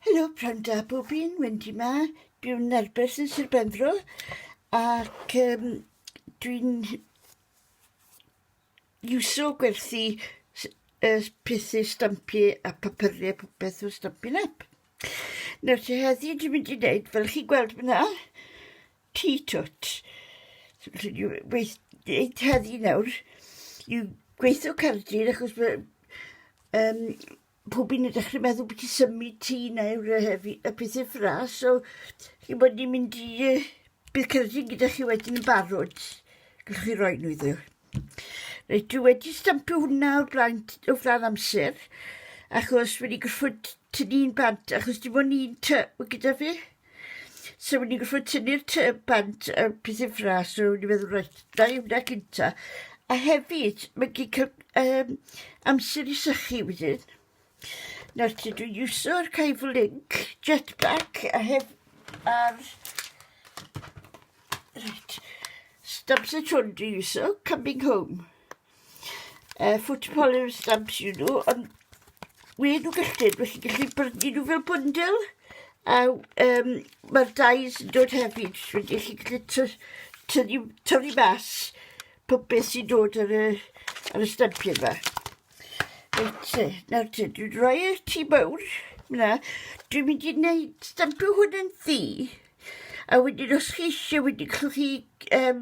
Helo, pnawn da bob un, Wendy 'ma. Dwi'n arbed yn Sir Benfro ac um, dwi'n iwso gwerthu uh, pethu stampu a papyrau popeth o Stampin' Up. Nawr te heddi dwi'n mynd i wneud, fel chi gweld fyna, ti twt. So, gweith, heddi nawr, yw gweithio cardyn achos um, pob un yn dechre meddwl byti symud ti neu'r yy y pethe ffras so chi'n bod ni'n mynd i yy bydd cerdyn gyda chi wedyn yn barod. Gallwch chi roi nhw iddo. Reit, dwi wedi stampio hwnna o flaen, o flaen amser achos wedi gorfod tynnu'n bant achos dim ond un ty gyda fi. So wedi gorfod tynnu'r tŷ bant y peth uffra, so wedi meddwl reit, na i wna cynta. A hefyd, mae gen i um, amser i sychu wedyn. Nawr ti, dwi'n iwsio'r Caifu Link jetpack a hef... ar... Reit. Stamps y twrn dwi'n iwsio, coming home. uh, foot polymer stamps you know, ond we nhw gyllid, we chi'n gallu brynu nhw fel bwndil, a um, mae'r dais yn dod hefyd, so wedi chi gallu tynnu, tynnu mas pob beth sy'n dod ar y, ar y stampiau yma. Reit, e, nawr te, dwi'n rhoi y ti mawr, na, dwi'n mynd i wneud stampio hwn yn ddi, a wedyn os chi eisiau, wedyn chwch chi um,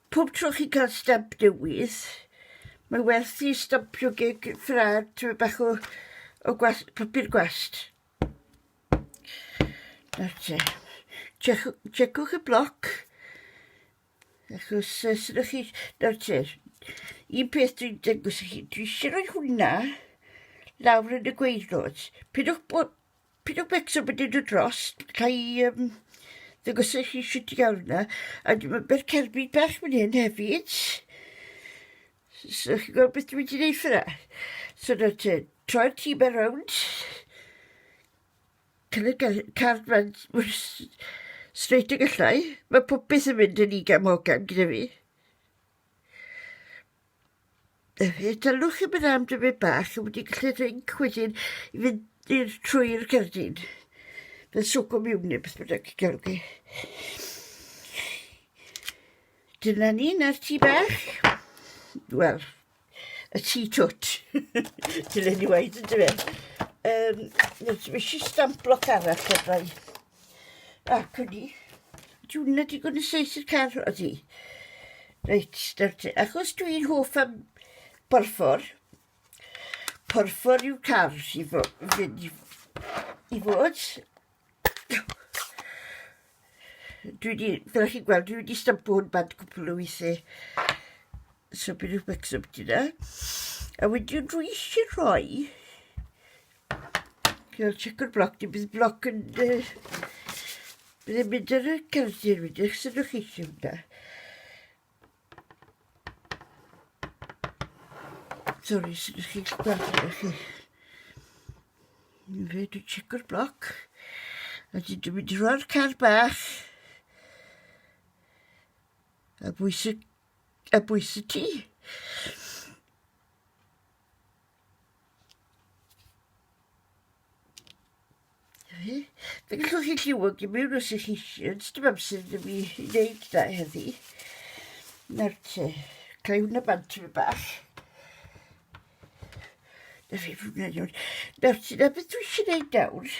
Pob tro chi'n cael stamp newydd, mae werth i stampio gig ffrad tyfu bach o, o gwast, papur gwast. Nawr te, checwch y bloc, achos uh, sy'n ydych chi, nawr te, un peth dwi'n dengwys i chi, dwi eisiau rhoi hwnna lawr yn y gweilod. Pidwch bod Pryd o becso bod yn dod dros, ca i yym ddangos i chi shwt i ga'l hwnna. A dwi me'wl by'r cerbyd bach fan hyn hefyd. S- so chi'n gweld beth dwi wedi neud ffor 'na? So nawr te, troi'r tîm e rownd. Cyn y ger- card ma'n mor s- straight y gallai. Ma' popeth yn mynd yn ugain mogain gyda fi. Yy dylwch chi myn' am dipyn bach a wedi gallu drinc wedyn i fynd i'r trwy'r gerdyn. Fel swco miwn ne' beth bynnag y gelwch chi. Dyna ni 'na'r tŷ bach. Wel, y tŷ twt. Dyle ni weud yndyfe? Yym nes i fi isie stamp bloc arall fyddai. Ac o'n i, dwi'n na digon yn seis y car o di. Reit, start, achos dwi'n hoff am porffor. Porffor yw car i fod, i fod. Dwi wedi, fel chi'n gweld, dwi wedi stampo hwn bant cwpl o weithiau. So bydd rhywbeth sy'n dyna. A wedyn dwi eisiau rhoi Cael check o'r bloc, dim bydd bloc yn... Uh, bydd yn mynd ar y cerdyn wedi eich sy'n chi chi hwnna. Sorry, sy'n chi gweld chi. Fe, dwi'n check o'r bloc. A dyn dwi'n mynd i roi'r car bach. A bwys y, a bwys y ti. Fe gallwch chi lliwio i mewn os ych chi eisiau, ond dim amser ddim i wneud da heddi. Nawr te, cael hwnna bant tyfu bach. Na fi hwnna iawn. Nawr te, na beth dwi eisiau gwneud nawr.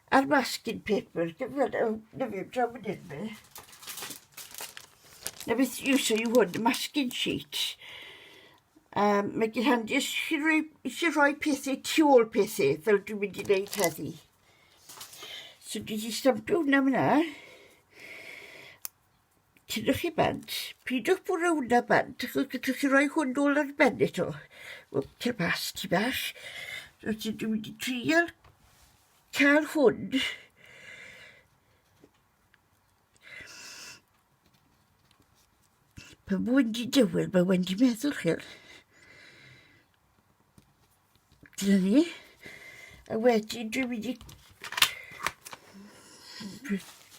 A'r masking paper, dim fel yw, na fi, draw fan hyn fi. Na beth yw so yw hwn, masking sheets. Um, mae gen handi eisiau rhoi, eisiau rhoi pethau tu ôl pethau, fel dwi'n mynd i wneud heddi. So dwi wedi stampio hwnna fyna. Tydiwch chi bant, pidwch bwrw hwnna bant, achos gallwch chi roi hwn nôl ar ben eto. O, cer mas, ti bach. Rwyt ti dwi wedi trial cael hwn. Pan mae'n di dywyll, mae wedi meddwl chi. Dyna ni. A wedyn dwi'n mynd i...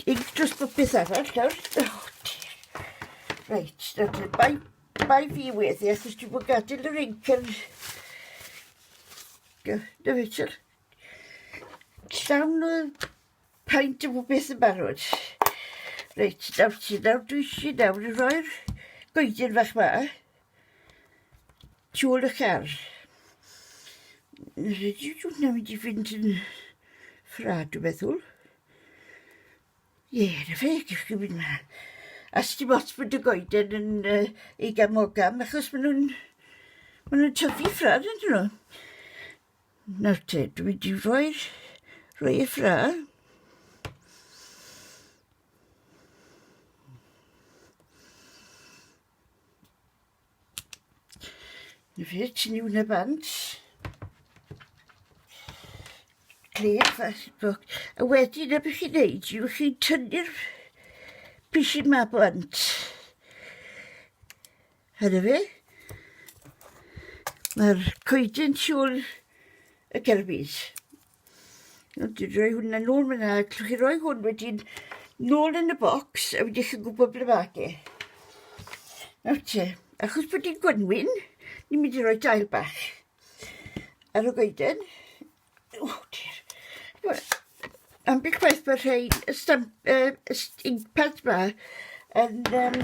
Inc dros bopeth arall nawr. Oh dear. Reit, nawr bai, bai fi weddi, achos dwi'n bod gadael yr inc yn... Na fe, siwr. Llawn o paint o bob beth yn barod. Reit, nawr ti, nawr dwi eisiau nawr i roi'r goedyn fach ma. Siŵr y car. Rydw i'n mynd i fynd yn ffrad, dwi'n meddwl. Ie, na fe, gif chi fynd ma. A sti bot bod y goeden yn uh, ei gamogam, achos maen nhw'n maen nhw tyfu ffrad yn nhw. Nawr te, dwi'n mynd i roi'r rhoi y ffrad. Rich New Nabant. Clef Facebook. A wedyn y bych chi'n neud yw chi'n tynnu'r bishyn ma blant. Hynny fe? Mae'r coedyn siwl y gerbyd. Nawr, rhoi hwnna nôl fyna. Allwch chi roi hwn wedyn nôl yn y bocs a wedyn chi'n gwybod ble mae e. Nawr te, achos bod hi'n gwenwyn, ni'n mynd i roi dail bach ar y goeden. O, dir. Wel, am beth gwaith bod rhai y stamp, uh, y st- inkpad ma yn um,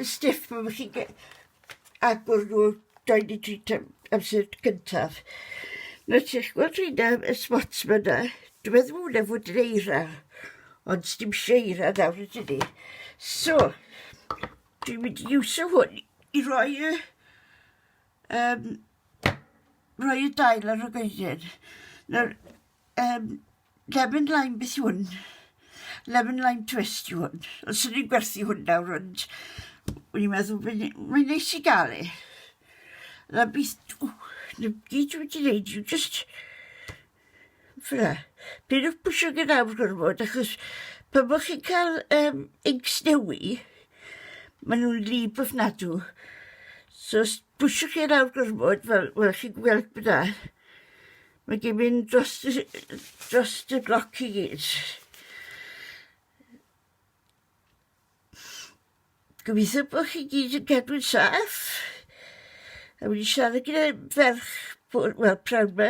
stiff, mae chi'n Agor nhw 23 tan amser gyntaf. Mae ti'n gweld rhaid am y spots ma na. Dwi'n meddwl mwyn efo dyn eira. Ond dim seira nawr ydyn ni. So, dwi'n mynd i iwsio hwn i roi y... Um, roi y dail ar y goeden. Nawr, um, Lemon lime beth yw hwn? Lemon lime twist yw hwn. Os ydyn ni'n gwerthu hwn nawr, ond o'n i'n meddwl, mae'n neis i gael e. Na beth, na gyd dwi wedi gwneud yw just... Fyna. Pyn o'ch pwysio gyda awr gorfod, achos pan bod chi'n cael um, inks newi, maen nhw'n lib o'ch nadw. So, pwysio chi yn awr gorfod, fel, wel, chi'n gweld byda. Mae gen mynd dros y dros y gloc i gyd. Gobeithio bod chi gyd yn cadw'n saff. A wedi siarad gyda ferch, bwr- wel, prawd me,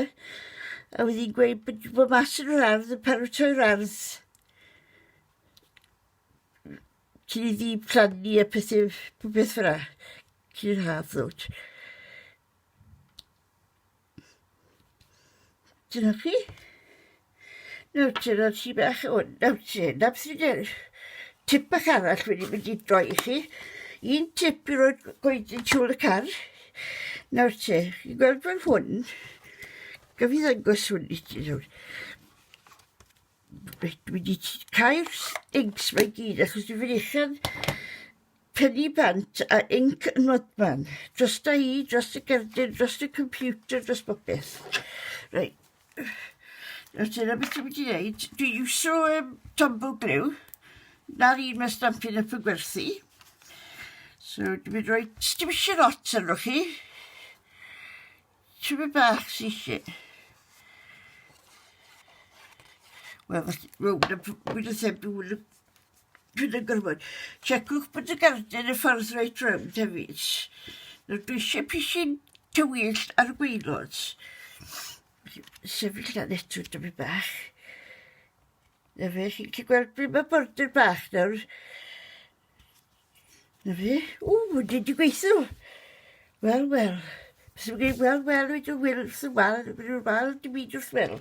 a wedi gweud bod wedi bod mas yn yr ardd, yn paratoi'r ardd. Cyn i ddi plannu a pethau, popeth fyna. Cyn i'r haf ddod. Dyna chi. Nawr te, roedd ti bach o... Nawr te, na beth fi'n dweud. Tip bach arall wedi mynd i droi i chi. Un tip i roed goeden tiwl y car. Nawr te, chi'n gweld fel hwn. Gaf i ddangos hwn i ti nawr. Reit, dwi wedi cau'r stinks mae gyd achos dwi'n fynychan Peli bant a inc yn fodfan. Drosta i, dros y gerdyn, dros y computer, dros bopeth. Reit. Nawr dyna beth dwi'n mynd i wneud. Dwi'n iwsio um, tombow glyw. Na'r un mae stampin up yn gwerthu. So dwi'n mynd roi... Dim eisiau lot arno chi. Ti'n mynd bach sy'n eisiau. Wel, mae'n mynd yn fwy na thebyg Pryd yn gorfod. Checwch bod y garden y ffordd reit rownd hefyd. Nawr dwi eisiau pisyn tywyllt ar y gwaelod. Sefyll na netw dyfu bach. Na fe, chi'n gallu gweld pryd mae border bach nawr. Na fe? O, wedi di gweithio. Wel, wel. Sy'n gwneud wel, wel, wedi o wyl, sy'n wal, wedi o'r wal, dim byd wrth wel.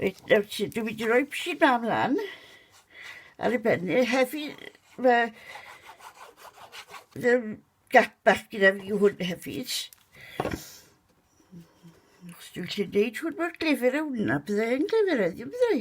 Reit, nawr ti, dwi wedi rhoi psi da mlaen. Ar y benni, hefi, fe... Ddim gap bach gyda fi hwn hefyd. Os dwi'n lle neud hwn mor glefer a hwnna, byddai'n glefer heddiw, byddai.